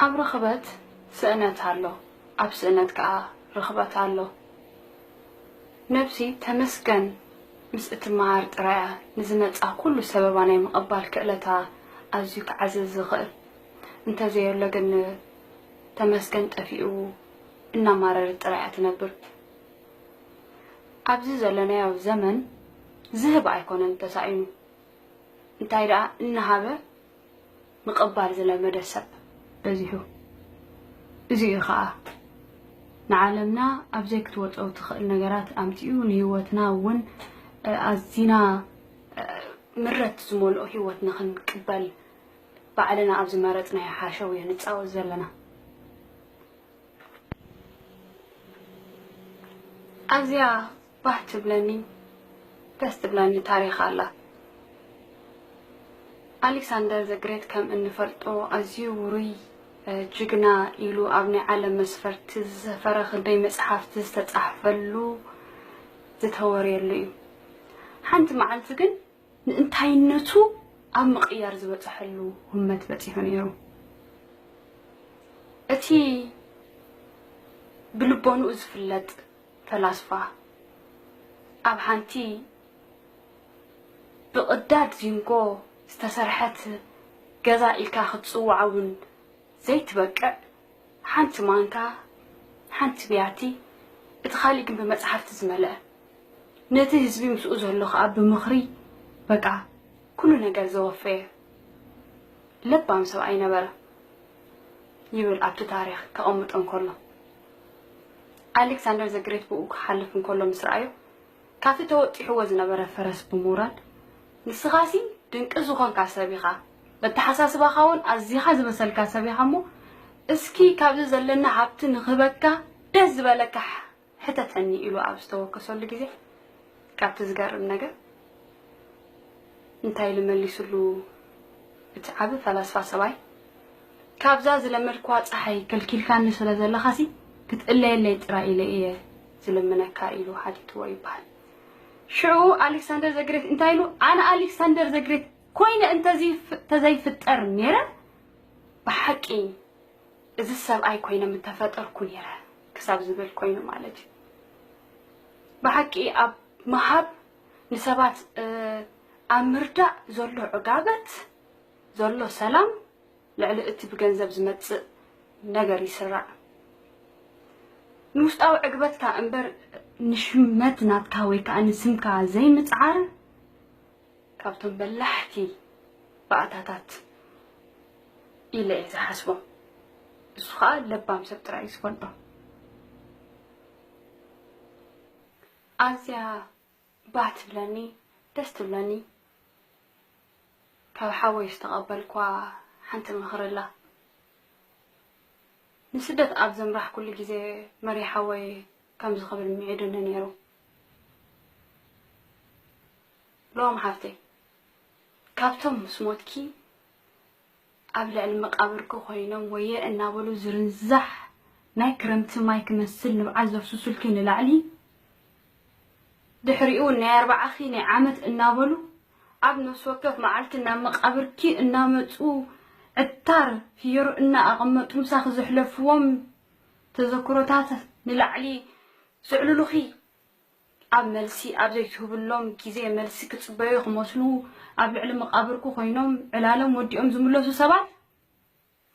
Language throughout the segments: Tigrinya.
ኣብ ርኽበት ስእነት ኣሎ ኣብ ስእነት ከኣ ርኽበት ኣሎ። ነብሲ ተመስገን ምስ እትመሃር ጥራይ እያ ንዝመጽኣ ኩሉ ሰበባ ናይ ምቕባል ክእለታ ኣዝዩ ክዓዝዝ ዝኽእል። እንተዘየሎ ግን ተመስገን ጠፊኡ እናማረረት ጥራይ እያ ትነብር። ኣብዚ ዘለናዮ ዘመን ዝህብ ኣይኮነን ተሳኢኑ እንታይ ደኣ እናሃበ ምቕባል ዝለመደ ሰብ በዚሑ። እዚ እዩ ኸኣ ንዓለምና ኣብ ዘይክትወጾ እትኽእል ነገራት ኣምጺኡ ንህይወትና እውን ኣዚና ምረት ዝመልኦ ህይወት ንኽንቅበል ባዕልና ኣብ ዝመረጽናዮ ሓሸውየ ንጻወት ዘለና። ኣዝያ ባህ ትብለኒ ደስ ትብለኒ ታሪኽ ኣላ። ኣሊክሳንደር ዘ ግሬት ከም እንፈልጦ ኣዝዩ ውሩይ ጅግና ኢሉ ኣብ ናይ ዓለም መስፈርቲ ዝሰፈረ ክንደይ መጽሓፍቲ ዝተጻሕፈሉ ዝተወርየሉ እዩ። ሓንቲ መዓልቲ ግን ንእንታይነቱ ኣብ ምቕያር ዝበጽሐሉ ህመት በጺሑ ነይሩ። እቲ ብልቦንኡ ዝፍለጥ ፈላስፋ ኣብ ሓንቲ ብቕዳድ ዚንጎ ዝተሰርሐት ገዛ ኢልካ ክትጽውዓ ውን ዘይትበቅዕ ሓንቲ ማንካ፣ ሓንቲ ብያቲ፣ እቲ ካልእ ግን ብመጽሓፍቲ ዝመልአ፣ ነቲ ህዝቢ ምስኡ ዘሎ ከኣ ብምኽሪ በቃ ኩሉ ነገር ዘወፈየ ለባም ሰብኣይ ነበረ ይብል ኣብቲ ታሪኽ ከቐምጦ እንከሎ። ኣሌክሳንደር ዘ ግሬት ብእኡ ክሓልፍ እንከሎ ምስ ረኣዮ፣ ካብቲ ተወጢሕዎ ዝነበረ ፈረስ ብምውራድ፣ ንስኻሲ ድንቂ ዝኾንካ ሰብ ኢኻ፣ በተሓሳስባኻውን ኣዚኻ ዝበሰልካ ሰብ ኢኻ እሞ፣ እስኪ ካብዚ ዘለኒ ሃብቲ ንኽህበካ ደስ ዝበለካ ሕተተኒ ኢሉ ኣብ ዝተወከሰሉ ግዜ፣ ካብቲ ዝገርም ነገር እንታይ ኢሉ መሊሱሉ እቲ ዓቢ ፈላስፋ ሰብኣይ ካብዛ ዝለመድክዋ ጸሓይ ከልኪልካኒ ስለ ዘለኻሲ ክትእለየለይ ጥራይ ኢለ እየ ዝልምነካ ኢሉ ሓቲትዎ ይበሃል። ሽዑ ኣሌክሳንደር ዘግሬት እንታይ ኢሉ ኣነ ኣሌክሳንደር ዘግሬት ኮይነ እንተዘይፍጠር ነይረ ብሓቂ እዚ ሰብኣይ ኮይነ ምተፈጠርኩ ነይረ ክሳብ ዝብል ኮይኑ ማለት እዩ ብሓቂ ኣብ ምሃብ ንሰባት ኣብ ምርዳእ ዘሎ ዕጋበት ዘሎ ሰላም ልዕሊ እቲ ብገንዘብ ዝመጽእ ነገር ይስራዕ ንውሽጣዊ ዕግበትካ እምበር ንሽመት ናትካ ወይ ከዓ ንስምካ ዘይምፅዓር ካብቶም በላሕቲ ባእታታት ኢለ እየ ዝሓስቦም ንሱ ከዓ ለባም ሰብ ጥራይ እዩ ዝፈልጦ ኣዝያ ባህ ትብለኒ ደስ ትብለኒ ካብ ሓወይ ዝተቐበልኳ ሓንቲ ምኽሪ ኣላ ንስደት ኣብ ዘምራሕኩሉ ግዜ መሪሓወይ ከምዚ ክብል ምዒዱኒ ነይሩ ሮም ሓፍተይ ካብቶም ምስ ሞትኪ ኣብ ልዕሊ መቃብርኪ ኮይኖም ወየ እናበሉ ዝርንዛሕ ናይ ክረምቲ ማይ ክመስል ንብዓት ዘፍስሱልኪ ንላዕሊ ድሕሪኡ ናይ ኣርባዓኺ ናይ ዓመት እናበሉ ኣብ ነፍሲ ወከፍ መዓልቲ ናብ መቃብርኪ እናመፁ ዕታር ፍዮሪ እናኣቐመጡ ምሳኺ ዘሕለፍዎም ተዘክሮታት ንላዕሊ ዘዕልሉኺ ኣብ መልሲ ኣብ ዘይትህብሎም ግዜ መልሲ ክጽበዩ ክመስሉ ኣብ ልዕሊ መቓብርኩ ኮይኖም ዕላሎም ወዲኦም ዝምለሱ ሰባት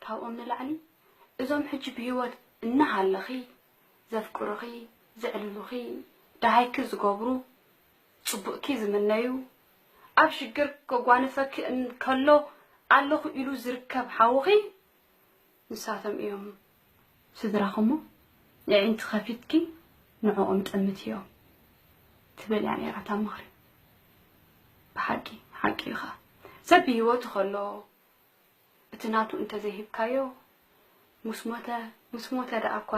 ካብኦም ንላዕሊ እዞም ሕጂ ብህይወት እናሃለኺ ዘፍቅሩኺ ዘዕልሉኺ ደሃይኪ ዝገብሩ ጽቡቕኪ ዝምነዩ ኣብ ሽግር ከጓንፈኪ እንከሎ ኣለኹ ኢሉ ዝርከብ ሓውኺ ንሳቶም እዮም ስድራኹ'ሞ የዒንቲ ከፊትኪ ንዕኦም ጠምትዮ ትብል እያ ነይራ እታ ምኽሪ። ብሓቂ ሓቂ እዩ ኸኣ። ሰብ ብህይወቱ ከሎ እቲ ናቱ እንተ ዘይሂብካዮ ምስ ሞተ ምስ ሞተ ደኣ'ኳ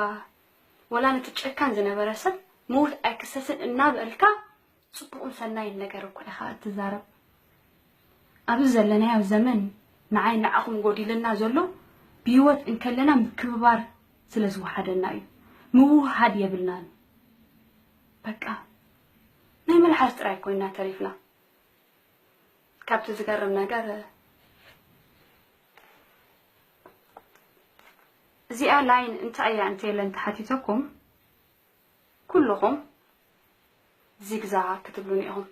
ወላ ነቲ ጨካን ዝነበረ ሰብ ምዉት ኣይክሰስን እናበልካ ጽቡቕን ሰናይን ነገር እኳ ኢኻ እትዛረብ። ኣብዚ ዘለናዮ ዘመን ንዓይን ንዓኹም ጎዲሉና ዘሎ ብህይወት እንከለና ምክብባር ስለ ዝወሓደና እዩ። ምውህሃድ የብልናን በቃ ናይ መልሓስ ጥራይ ኮይና ተሪፍና። ካብቲ ዝገርም ነገር እዚኣ ላይን እንታይ እያ እንተይለ እንተሓቲተኩም፣ ኩሉኹም ዚግዛግ ክትብሉኒ ኢኹም።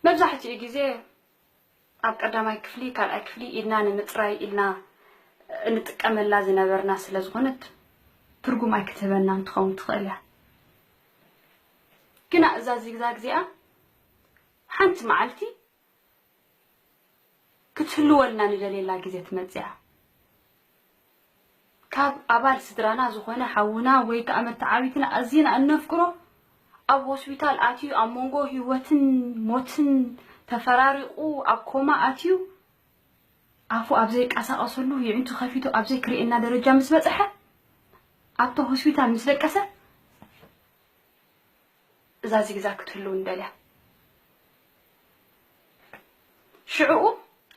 መብዛሕትኡ ግዜ ኣብ ቀዳማይ ክፍሊ፣ ካልኣይ ክፍሊ ኢድና ንምጽራይ ኢልና እንጥቀመላ ዝነበርና ስለ ዝኾነት ትርጉም ኣይክትህበናን ትኸውን ትኽእል እያ። ግና እዛ ዚግዛግ እዚኣ ሓንቲ መዓልቲ ክትህልወልና ንደልየላ ግዜ ትመጽእያ። ካብ ኣባል ስድራና ዝኾነ ሓውና ወይ ከኣ መተዓቢትና ኣዚና እነፍቅሮ ኣብ ሆስፒታል ኣትዩ ኣብ መንጎ ህይወትን ሞትን ተፈራሪቑ ኣብ ኮማ ኣትዩ ኣፉ ኣብ ዘይቃሳቐሰሉ ይዕንቱ ከፊቱ ኣብ ዘይክርእየና ደረጃ ምስ በጽሐ ኣብታ ሆስፒታል ምስ ደቀሰ እዛ ዚግዛግ ክትህሉ ንደልያ ሽዑኡ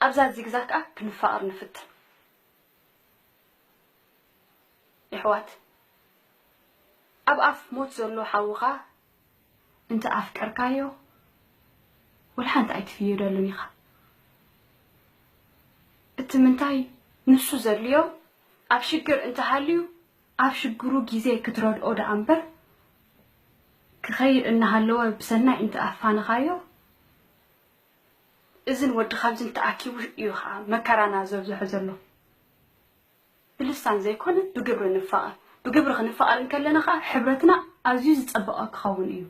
ኣብዛ ዚግዛግ ከኣ ክንፋቀር ንፍትን የሕዋት ኣብ ኣፍ ሞት ዘሎ ሓውኻ እንተ ኣፍቀርካዮ ወልሓንቲ ኣይትፍይደሉን ኢኻ እቲ ምንታይ ንሱ ዘድልዮ ኣብ ሽግር እንተ ሃልዩ ኣብ ሽግሩ ጊዜ ክትረድኦ ደኣምበር ክኸይድ እናሃለወ ብሰናይ እንተኣፋነኻዮ እዝን ወዲ ኻልዝን ተኣኪቡ እዩ ኸኣ መከራና ዘብዝሖ ዘሎ። ብልሳን ዘይኮነ ብግብሪ ንፋቐር። ብግብሪ ክንፋቐር እንከለና ኸኣ ሕብረትና ኣዝዩ ዝጸበቐ ክኸውን እዩ።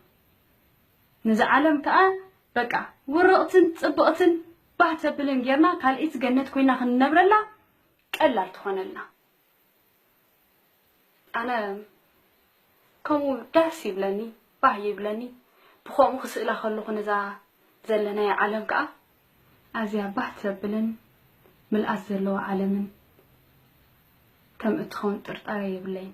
ንዛ ዓለም ከኣ በቃ ውርቕትን ጽብቕትን ባህ ተብልን ጌርና ካልኣይቲ ገነት ኮይና ክንነብረላ ቀላል ትኾነልና። ኣነ ከምኡ ደስ ይብለኒ ባህ ይብለኒ ብከምኡ ክስእላ ከለኩ ነዛ ዘለናያ ዓለም ከኣ ኣዝያ ባህ ተብልን ምልኣት ዘለዋ ዓለምን ከም እትኸውን ጥርጣረ የብለይን።